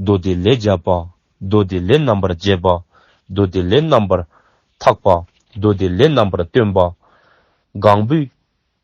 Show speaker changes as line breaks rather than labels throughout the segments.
མདོ་སྡེ་ལས་སྦྱར་བ། མདོ་སྡེ་ལས་རྣམ་པར་འབྱེད་པ། མདོ་སྡེ་ལས་རྣམ་པར་འཐག་པ། མདོ་སྡེ་ལས་རྣམ་པར་སྟོན་པ། གང་བུ།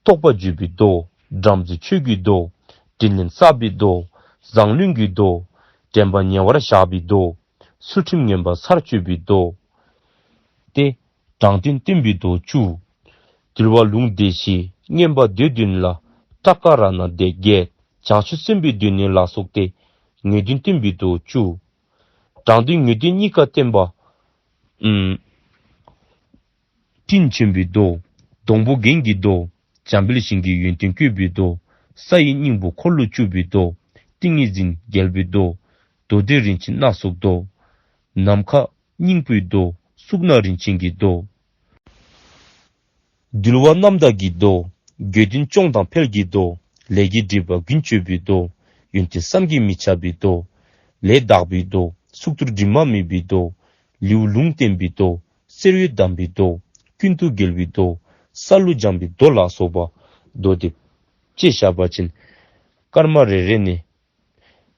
རྟོགས་པ་བརྗོད་པའི་མདོ། བྲམ་ཟེ་ཆོས་ཀྱི་མདོ། དྲིན་ལན་བསབ་པའི་མདོ། བཟང་བླུན་གྱི་མདོ། དྲན་པ་ཉེ་བར་བཞག་པའི་མདོ། ཚུལ་ཁྲིམས་ངན་པ་སར་གཅོད་པའི་མདོ། སྟེ། དྲང་བདེན་བསྟན་པའི་རྡོ་བཅུ། དུལ་བ་ལུང་བདེ་བཞི་བསྙེན་པ་འདོད་བདུན་ནི་ལ། ཏྲཀ་ཀ་ར་ན་དད་བརྒྱད་བྱང་ཆུབ་སེམས་དཔའི་བདུན་ནི་ལ་སོགས་ཏེ། ངེས་དོན་བསྟན་པའི་རྡོ་བཅུ། དྲང་དོན་ངེས་དོན་གཉིས་ཀ་བསྟན་པ། སྤྲིན་ཆེན་པོའི་རྡོ། སྡོང་པོ་རྒན་གྱི་རྡོ། འཇམ་དཔལ་ཞིང་གི་ཡོན་ཏན་བསྐྱོད་པའི་རྡོ། ས་ཡི་སྙིང་པོ་འཁོར་ལོ་བཅུ་པའི་རྡོ། ཏིང་ངེ་འཛིན་རྒྱལ་པོའི་རྡོ། རྡོ་རྗེ་རིན་ཆེན་སྣ་ཚོགས་རྡོ། ནམ་མཁའ། སྙིང་པོའི་མདོ། གཟུགས་སྣང་རིན་ཆེན་གྱི་མདོ། འདུལ་བ་རྣམ་དག་གི་མདོ། རྒྱུད་བདུན་སྐྱོང་དང་འཕེལ་གྱི་མདོ། ལས་ཀྱི་སྒྲིབ་པ་ཀུན་གཅོད་པའི་མདོ། ཡོན་ཏན་བསམ་གྱིས་མི་ཁྱབ་པའི་མདོ། ལས་དག་པའི་མདོ། གཟུགས་ཐུར་དྲི་མ་མེད་པའི་མདོ། ལེའུ་ལུང་བསྟན་པའི་མདོ། གསེར་འོད་གདམས་པའི་མདོ། ཀུན་ཏུ་དགེ་བའི་མདོ། ས་ལུ་སྦྱངས་པའི་མདོ་ལ་སོགས་པ། མདོ་སྡེ། ཅེས་བྱ་བ་བྱིན། སྐར་མ་རེ་རེ་ནས།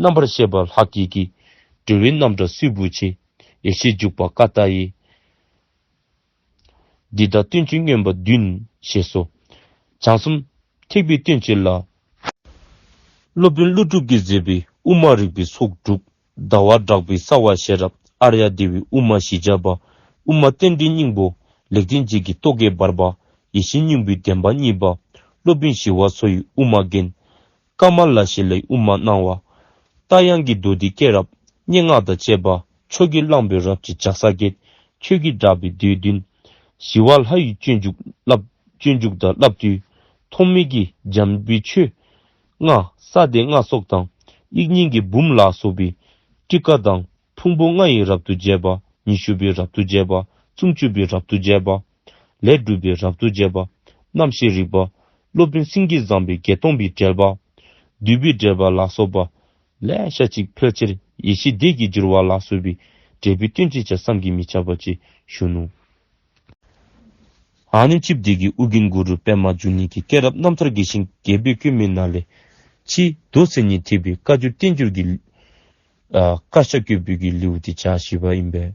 རྣམ་པར་ཤེས་པ་ལྷག་བགྱིད་ཀྱི། འགྲོ་བའི་རྣམ་གྲངས་སྲིད་བུ་ཆེ། ཡེ་ཤེས་འཇུག་པ་ཀ་ཏ྄་ཡི། འདི་དག་སྟོན་ཅིང་སྨྱོན་པ་བདུན། ཞེས་སོ། བྱང་གསུམ། ཐེག་པའི་སྟོན་བྱེད་ལ། སློབ་དཔོན་ཀླུ་སྒྲུབ་ཀྱིས་མཛད་པའི་དབུ་མ་རིག་པའི་ཚོགས་དྲུག། ཟླ་བ་བསྒྲགས་པའི་གསང་བ་ཤེས་རབ་ཨ་ར་ཡ་སྡེ་བའི་དབུ་མ་ཞི་བྱ་བ། དབུ་མ་རྟེན་འབྲེལ་སྙིང་པོ། ལེགས་ལྡན་འབྱེད་ཀྱི་རྟོག་གེ་འབར་བ། ཡེ་ཤེས་སྙིང་པོའི་བདེན་པ་གཉིས་པ། སློབ་དཔོན་ཞི་བ་འཚོ་ཡི་དབུ་མ་རྒན། ཀ་མ་ལ་ཤཱི་ལའི་དབུ་མར་སྣང་བ། རྟ་དབྱངས་ཀྱི་མདོ་འདི་སྐད་རབ་སྙན་ངག་དང་བཅས་པ་ཆོས་ཀྱི་གླང་པོའི་རབ་ཀྱི་ལྗགས་ས་གས་ཁྱོད་ཀྱིས་བསྒྲགས་པའི་མདོའི་བདུན། ཞི་བ་ལྷ་ཡི་སྤྱོད་འཇུག་བསླབ། སྤྱོད་འཇུག་དང་བསླབ་བཏུས་ཐོགས་མེད་ཀྱི་འཇམ་དཔལ་ཆོས། ལྔ། ས་དེ་ལྔ་སོགས་དང་དབྱིག་གཉེན་གྱི་འབུམ་ལ་སོགས་པའི། ཀྲི་ཀ་དང་ཕུང་པོ་ལྔ་ཡི་རབ་ཏུ་རྒྱས་པ། ཉི་ཤུ་པའི་རབ་ཏུ་རྒྱས་པ། སུམ་ཅུ་པའི་རབ་ཏུ་རྒྱས་པ། ལས་སྒྲུབ་པའི་རབ་ཏུ་རྒྱས་པ། རྣམ་ཤེས་རིག་པ། སློབ་དཔོན་སེང་གེས་བརྫངས་པའི་བརྒྱད་སྟོང་པའི་བསྒྲལ་པ། བདུད་པའི་བསྒྲལ་པ་ལ་སོགས་པ། ལས་ཞལ་གཅིག་ཕལ་ཆེར་ཡེ་ཤེས་བརྡས་ཀྱིས་བསྒྱུར་བ་ལ་སོགས་པའི་འབྲས་བུའི་སྟོན་ཅེས་བྱ་བསམ་གྱིས་མི་ཁྱབ་པ་ཅེས་གཞོན་ནུ། ཨཱ་ནི་ཅིབ་བདེ་གི་དབུ་གིང་གུ་རུ་པདྨ་འབྱུང་གནས་ཀྱི་སྐྱེས་རབས་རྣམ་ཐར་དགེ་ཞིང་རྒྱལ་པོས་སྐྱོན་མེད་ན་ལས། ཕྱིས་རྡོ་གསེར་ཉིད་ཐེག་པའི་བཀའ་བརྒྱུད་བསྟན་འགྱུར་གྱི། དཀར་ཆ་སྐྱོད་འབུལ་གྱི་ལེའུ་སྟེ་ཆ་བཞི་པ་ཡིན་པས།